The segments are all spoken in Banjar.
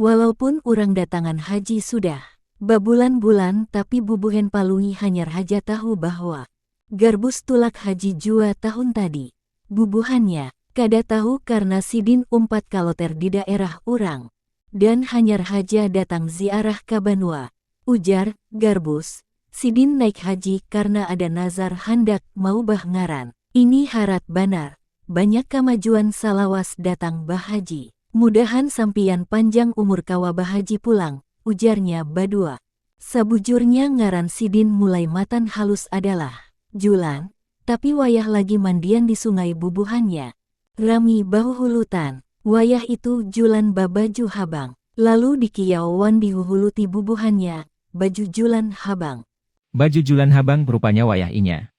Walaupun urang datangan haji sudah. Babulan-bulan tapi bubuhen Palui hanyar haja tahu bahwa Garbus tulak haji jua tahun tadi. Bubuhannya kada tahu karna sidin umpat kaloter di daerah urang dan hanyar haja datang ziarah ka banua, ujar Garbus Sidin naik haji karna ada nazar handak maubah ngaran. Ini harat banar. Banyak kamajuan salawas datang bahaji. Mudahan sampiyan panjang umur kawa bahaji pulang, ujarnya badua. Sabujurnya ngaran sidin mulai matan halus adalah, Julan, tapi wayah lagi mandian di sungai bubuhannya, Rami bahuhulutan. Wayah itu Julan babaju habang. Lalu dikiyau wan dihuhuluti bubuhannya, baju Julan habang. Baju Julan habang rupanya wayah inya.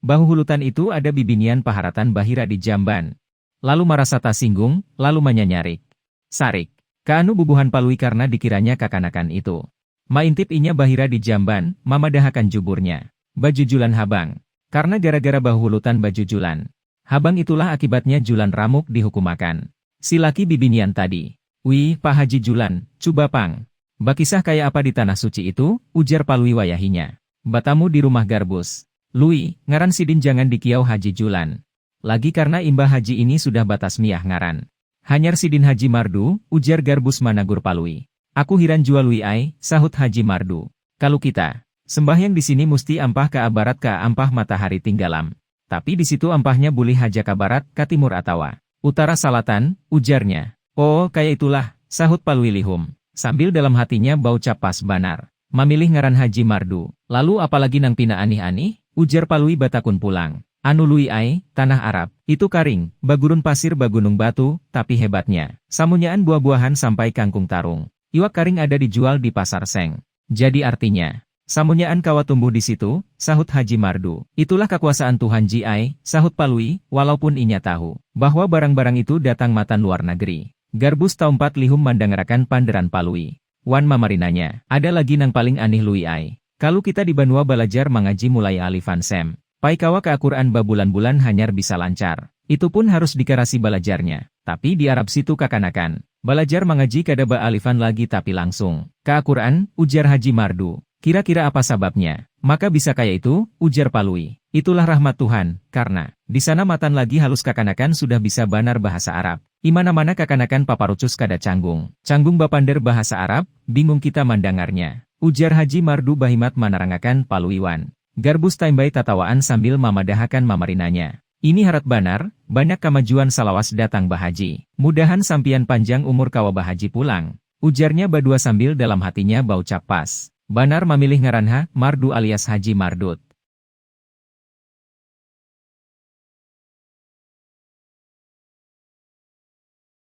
Bahuhulutan itu ada bibinian paharatan bahira di jamban. Lalu marasa tasinggung, lalu manyanyarik. Sarik. Kaanu bubuhan Palui karna dikiranya kakanakan itu. Maintip inya bahira di jamban, mamadahakan juburnya. Baju Julan habang. Karna gara-gara bahuhulutan baju Julan. Haban itulah akibatnya Julan Ramuk dihukumakan. Si laki bibinian tadi. Wih, Pak Haji Julan, cuba pang. Bakisah kaya apa di Tanah Suci itu? ujar Palui wayahinya. Batamu di rumah Garbus. Lui, ngaran sidin jangan dikiau Haji Julan. Lagi karna imbah Haji ini sudah batasmiyah ngaran. Hanyar sidin Haji Mardu, ujar Garbus managur Palui. Aku hiran jua Lui ai, sahut Haji Mardu. Kalu kita. Sembahyang di sini musti ampah ka barat ka ampah matahari tinggalam. Tapi di situ ampahnya bulih haja ka barat, ka timur atawa. Utara salatan, ujarnya. Oo, kaya itulah, sahut Palui lihum, sambil dalam hatinya baucap pas banar, mamilih ngaran Haji Mardu. Lalu apa lagi nang pina anih-anih? ujar Palui batakun pulang. Anu Lui ai, tanah Arab, itu karing, bagurun pasir bagunung batu, tapi hebatnya, samunyaan buah-buahan sampai kangkung tarung, iwak karing ada dijual di pasar seng. Jadi artinya. Samunyaan kawa tumbuh di situ, sahut Haji Mardu. Itulah kakuasaan Tuhan Ji ai, sahut Palui, walaupun inya tahu. Bahwa barang-barang itu datang matan luar nageri. Garbus taumpat lihum mandangarakan panderan Palui. Wan mamarinanya. Ada lagi nang paling anih Lui ai. Kalu kita di banua balajar mangaji mulai alifan sem. Pai kawa ka Aquran babulan-bulan hanyar bisa lancar. Itu pun harus dikarasi balajarnya. Tapi di Arab situ kakanakan. Balajar mangaji kada ba alifan lagi tapi langsung. Ka Aquran, ujar Haji Mardu. Kira-kira apa sababnya. Maka bisa kaya itu? ujar Palui. Itulah rahmat Tuhan. Karna. Di sana matan lagi halus kakanakan sudah bisa banar bahasa Arab. Imana-mana kakanakan paparucus kada canggung. Canggung bapander bahasa Arab, bingung kita mandangarnya. Ujar Haji Mardu bahimat manarangakan Palui wan. Garbus taimbai tatawaan sambil mamadahakan mamarinanya. Ini harat banar, banyak kamajuan salawas datang bahaji. Mudahan sampiyan panjang umur kawa bahaji pulang. Ujarnya badua sambil dalam hatinya baucap pas banar mamilih ngaran ha, mardu alias haji mardut.